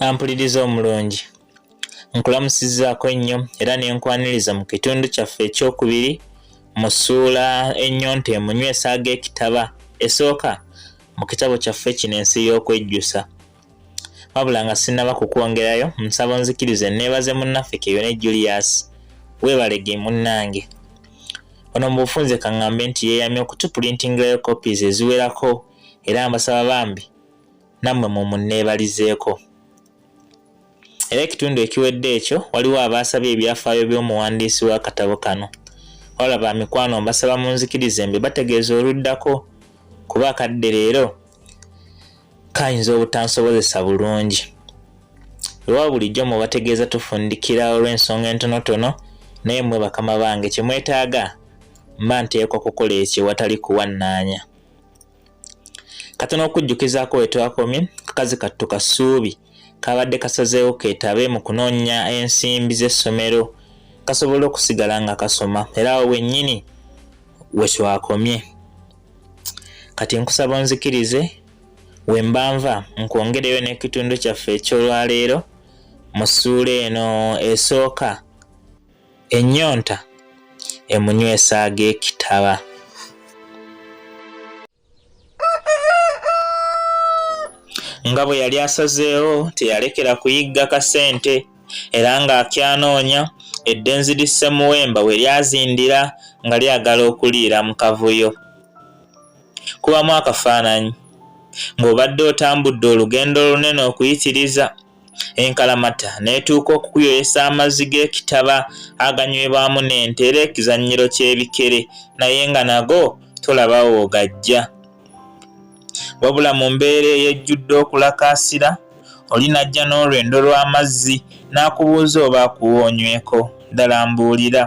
ampuliriza omulungi nkulamusizaako ennyo era ne nkwaniriza mu kitundu kyaffe ekyokubiri mu ssuula ennyonta emunywesa ag'ekitaba esooka mu kitabo kyaffe kino ensi y'okwejjusa wabula nga sinnaba kukwongerayo nsaba nzikiriza enneebaze munnaffe keyone julius weebalege munnange ono mu bufunze kaŋŋambe nti yeeyamye okutupulintingirayo copies eziwerako era mbasaba bambi nammwe mumunneebalizeeko era ekitundu ekiwedde ekyo waliwo abaasabye ebyafaayo by'omuwandiisi w'akatabo kano wala ba mikwano mbasaba munzikirize mbe bategeeza oluddako kuba akadde leero kayinza obutansobozesa bulungi ewa bulijjo mubategeeza tufundikira olw'ensonga entonotono naye mmwe bakama bange kye mwetaaga mba nteekwa kukola ekyo watali kuwannaanya kati n'okujjukizaako we twakomye kakazi kattu ka ssuubi kabadde kasazeewo keetabe mu kunoonya ensimbi z'essomero kasobola okusigala nga kasoma era awo wennyini we twakomye kati nkusaba onzikirize we mbanva nkwongereyo n'ekitundu kyaffe eky'olwaleero mu ssuula eno esooka Ennyonta emunywesa ag'ekitaba. Nga bwe yali asazeewo teyalekera kuyigga kasente era ng'akyanoonya eddenzi li Ssemuwemba we lyazindira nga lyagala okuliira mu kavuyo. Kubamu akafaananyi ng'obadde otambudde olugendo olunene okuyitiriza enkalamata n'etuuka okukuyoyesa amazzi g'ekitaba aganywebwamu n'ente era ekizannyiro ky'ebikere naye nga nago tolaba woogajja wabula mu mbeera eyejjudde okulakaasira oli n'ajja n'olwendo lw'amazzi n'akubuuza oba akuwa onyweko ddala mbuulira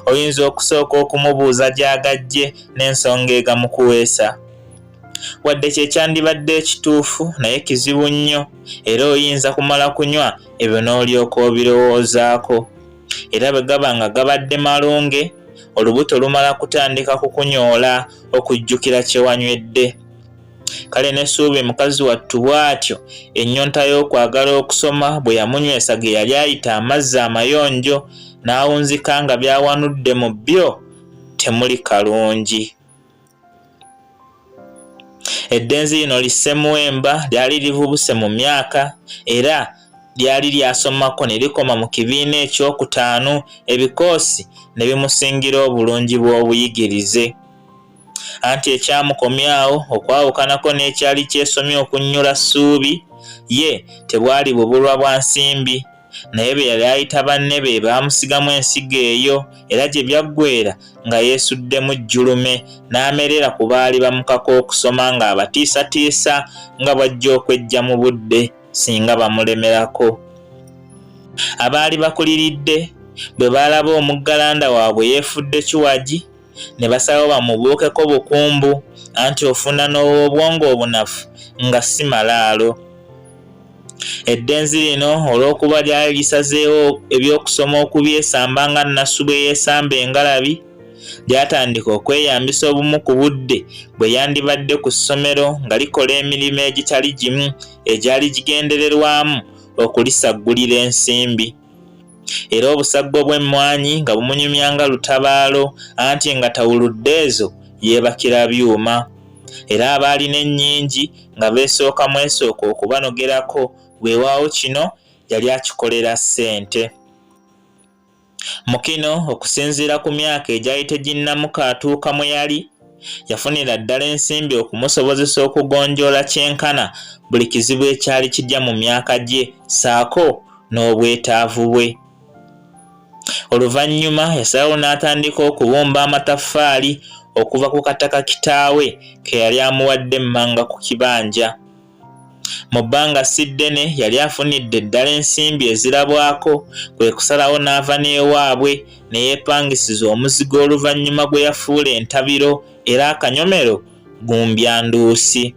oyinza okusooka okumubuuza gy'agajje n'ensonga egamukuweesa Wadde kye kyandibadde ekituufu, naye kizibu nnyo, era oyinza kumala kunywa ebyo n'olyoka obirowoozaako. Era bwe gaba nga gabadde malunge, olubuto lumala kutandika kukunyoola okujjukira kye wanywedde. Kale ne Suubi mukazi wattu bw'atyo, ennyonta y'okwagala okusoma bwe yamunywesa ge yali ayita amazzi amayonjo, n'awunzika nga by'awanudde mu byo temuli kalungi. Eddenzi lino lisse Muwemba lyali livubuse mu myaka era lyali lyasomako ne likoma mu kibiina ekyokutaano ebikoosi ne bimusingira obulungi bw'obuyigirize anti ekyamukomyawo okwawukanako n'ekyali kyesomye okunnyula ssuubi ye tebwali bubulwa bwa nsimbi naye be yali ayita banne be baamusigamu ensigo eyo era gye byaggweera nga yeesuddemu jjulume n'amerera ku baali bamukaka okusoma ng'abatiisatiisa nga bw'ajja okweggya mu budde singa bamulemerako abaali bakuliridde bwe baalaba omuggalanda waabwe yeefudde kiwagi ne basalawo bamubuukeko bukumbu anti ofuna n'ow'obwongo obunafu nga si malaalo eddenzi lino olw'okuba lyali lisazeewo eby'okusoma okubyesamba nga nnasu bwe yeesamba engalabi lyatandika okweyambisa obumu ku budde bwe yandibadde ku ssomero nga likola emirimu egitali gimu egyali gigendererwamu okulisaggulira ensimbi era obusaggo bw'emmwanyi nga bumunyumya nga lutabaalo anti nga tawuludde ezo yeebakira byuma era abaalina ennyingi nga beesooka mwesooka okubanogerako weewaawo kino yali akikolera ssente mu kino okusinziira ku myaka egyali teginnamuka atuuka mwe yali yafunira ddala ensimbi okumusobozesa okugonjoola kyenkana buli kizibu ekyali kijja mu myaka gye saako n'obwetaavu bwe oluvannyuma yasalawo n'atandika okubumba amataffaali okuva ku kataka kitaawe ke yali amuwadde emmanga ku kibanja Mu bbanga si ddene yali afunidde ddala ensimbi ezirabwako kwe kusalawo n'ava n'ewaabwe ne yeepangisiza omuzigo oluvannyuma gwe yafuula entabiro era akanyomero gumbya nduusi.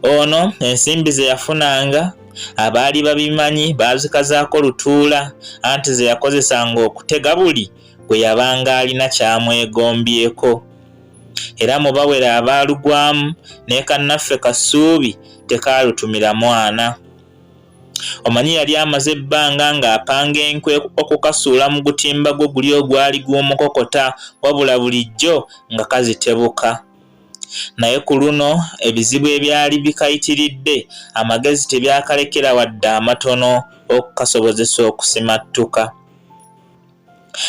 Ono ensimbi ze yafunanga abaali babimanyi baazikazaako lutuula anti ze yakozesanga okutega buli gwe yabanga alina kyamwegombyeko. era mu bawere abaalugwamu ne kannaffe Kasuubi tekaalutumira mwana. Omanyi yali amaze ebbanga ng'apanga enkwe okukasuula mu gutimba gwe guli ogwali gw'omukokota wabula bulijjo nga kazitebuka. Naye ku luno ebizibu ebyali bikayitiridde amagezi tebyakalekera wadde amatono okukasobozesa okusimattuka.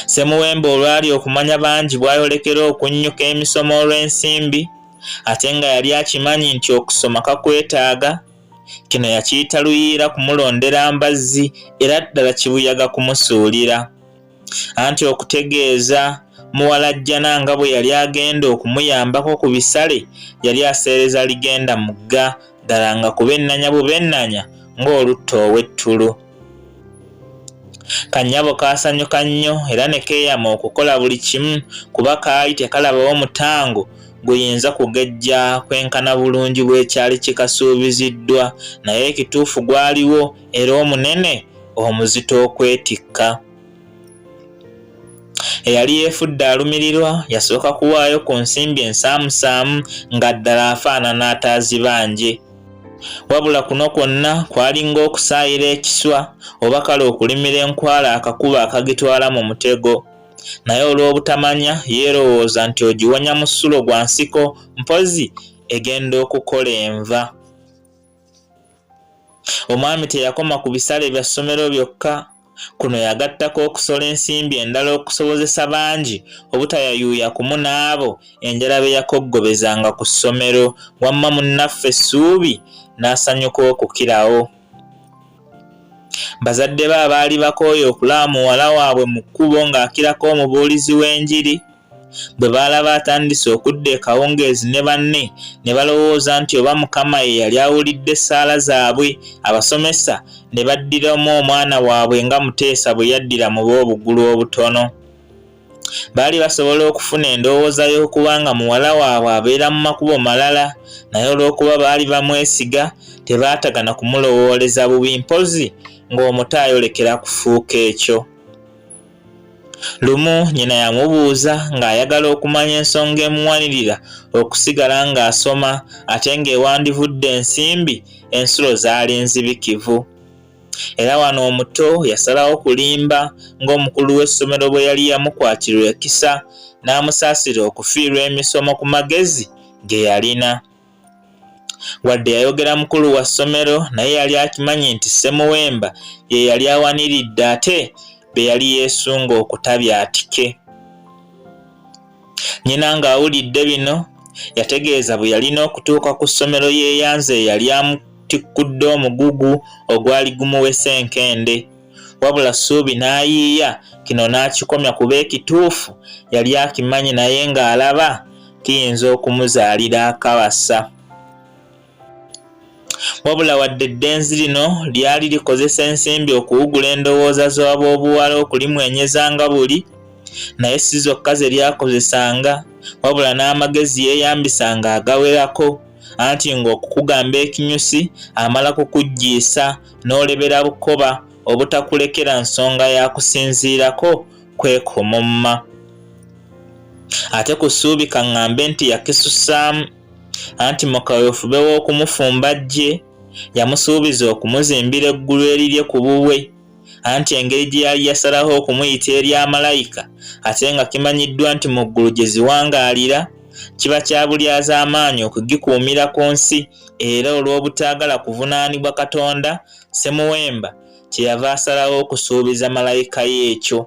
Ssemuwemba olwali okumanya bangi bwayolekera okunnyuka emisomo olw'ensimbi ate nga yali akimanyi nti okusoma kakwetaaga, kino yakiyita luyiira kumulondera mbazzi era ddala kibuyaga kumusuulira. Anti okutegeeza muwalajjana nga bwe yali agenda okumuyambako ku bisale yali aseereza ligenda mugga ddala nga kubenanya bubenanya ng'olutta ow'ettulu. Kanyabo kaasanyuka nnyo era ne keeyama okukola buli kimu kuba kaali tekalabawo mutango guyinza kugejja kwenkana bulungi bw'ekyali kikasuubiziddwa naye ekituufu gwaliwo era omunene omuzito okwetikka. Eyali yeefudde alumirirwa yasooka kuwaayo ku nsimbi ensaamusaamu nga ddala afaanana ataazibanje. wabula kuno kwonna kwali ng'okusaayira ekiswa oba kale okulimira enkwala akakuba akagitwala mu mutego naye olw'obutamanya yeerowooza nti ogiwonya mu ssulo gwa nsiko mpozi egenda okukola enva omwami teyakoma ku bisale bya ssomero byokka Kuno yagattako okusola ensimbi endala okusobozesa bangi obutayayuuya kumu n'abo enjala be yakoggobezanga ku ssomero wamma munnaffe Ssuubi n'asanyuka okukirawo. Bazadde be abaali bakooye okulaba muwala waabwe mu kkubo ng'akirako omubuulizi w'enjiri, Bwe baalaba atandise okudda ekawungeezi ne banne ne balowooza nti oba Mukama ye yali awulidde essaala zaabwe, abasomesa ne baddiramu omwana waabwe nga Muteesa bwe yaddira mu b'obugulu obutono. Baali basobola okufuna endowooza y'okuba nga muwala waabwe abeera mu makubo malala, naye olw'okuba baali bamwesiga, tebaatagana kumulowooleza bubi mpozzi ng'omuto ayolekera kufuuka ekyo. Lumu nnyina yamubuuza ng'ayagala okumanya ensonga emuwanirira okusigala ng'asoma ate ng'ewandivudde ensimbi ensulo zaali nzibikivu. Era wano omuto yasalawo kulimba ng'omukulu w'essomero bwe yali yamukwatirwa ekisa n'amusaasira okufiirwa emisomo ku magezi ge yalina. Wadde yayogera mukulu wa ssomero naye yali akimanyi nti Ssemuwemba ye yali awaniridde ate be yali yeesunga okutabya atike. Nnyina ng'awulidde bino yategeeza bwe yalina okutuuka ku ssomero yeeyanze eyali amutikkudde omugugu ogwali gumuwese enkende. wabula Ssuubi n'ayiiya kino n'akikomya kuba ekituufu yali akimanyi naye ng'alaba kiyinza okumuzaalira akabasa. Wabula wadde eddenzi lino lyali likozesa ensimbi okuwugula endowooza z'aboobuwala okulimwenyeza nga buli, naye si zokka ze lyakozesanga wabula n'amagezi yeeyambisanga agawerako anti ng'okukugamba ekinyusi amala kukuggiisa n'olebera bukoba obutakulekera nsonga ya kusinziirako kwekomomma ate ku ssuubi kaŋŋambe nti yakisusaamu anti mu kawefube w'okumufumba ggye yamusuubiza okumuzimbira eggulu erirye ku bubwe anti engeri gye yali yasalaho okumuyita eri amalayika ate nga kimanyiddwa nti mu ggulu gye ziwangaalira kiba kya bulyazaamaanyi okugikuumira ku nsi era olw'obutaagala kuvunaanibwa Katonda, Ssemuwemba kye yava asalawo okusuubiza malayika ye ekyo.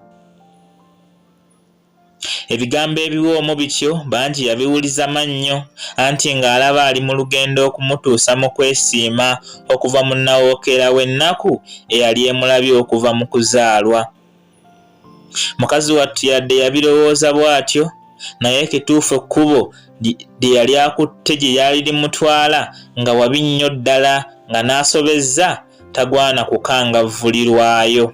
Ebigambo ebiwoomu bityo bangi yabiwuliza mannyo, anti ng'alaba ali mu lugendo okumutuusa mu kwesiima okuva mu nnawookeera w'ennaku eyali emulabye okuva mu kuzaalwa. mukazi wattu yadde yabirowooza bw'atyo naye ekituufu ekkubo lye yali akutte gye lyali limutwala nga wabi nnyo ddala nga n'asobezza tagwana kukangavvulirwayo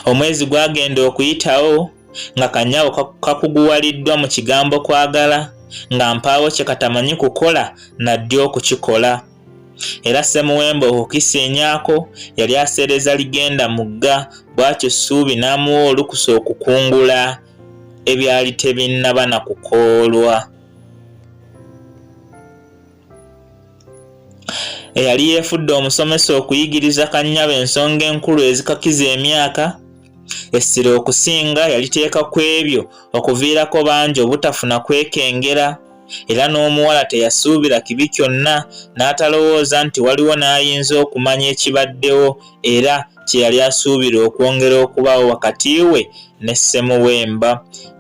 omwezi gwagenda okuyitawo nga kanyawo kakuguwaliddwa mu kigambo kwagala nga mpaawo kye katamanyi kukola naddi okukikola era Ssemuwemba okukisa enyako yali aseereza ligenda mugga bwatyo Ssuubi n'amuwa olukusa okukungula ebyali tebinnaba na kukoolwa. Eyali yeefudde omusomesa okuyigiriza Kannyabo ensonga enkulu ezikakiza emyaka Essira okusinga yaliteeka ku ebyo okuviirako bangi obutafuna kwekengera, era n'omuwala teyasuubira kibi kyonna n'atalowooza nti waliwo n'ayinza okumanya ekibaddewo era kye yali asuubira okwongera okubaawo wakati we ne Ssemuwemba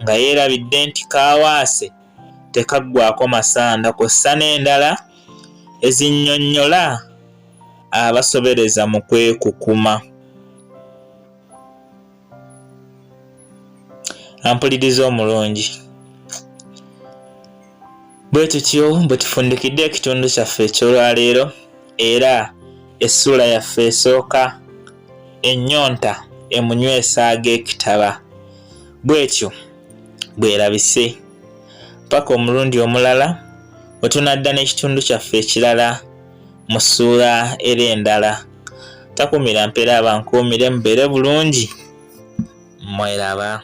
nga yeerabidde nti kaawaase tekaggwako masanda kw'ossa n'endala ezinnyonnyola abasobereza mu kwekukuma. ampuliriza omulungi bwe tutyo bwe tufundikidde ekitundu kyaffe eky'olwaleero era essuula yaffe esooka ennyonta emunywesa ag'ekitaba bw'etyo bwerabise paka omulundi omulala wetunadda n'ekitundu kyaffe ekirala mu ssuula era endala takumira mpeera abankuumire mubeere bulungi mweraba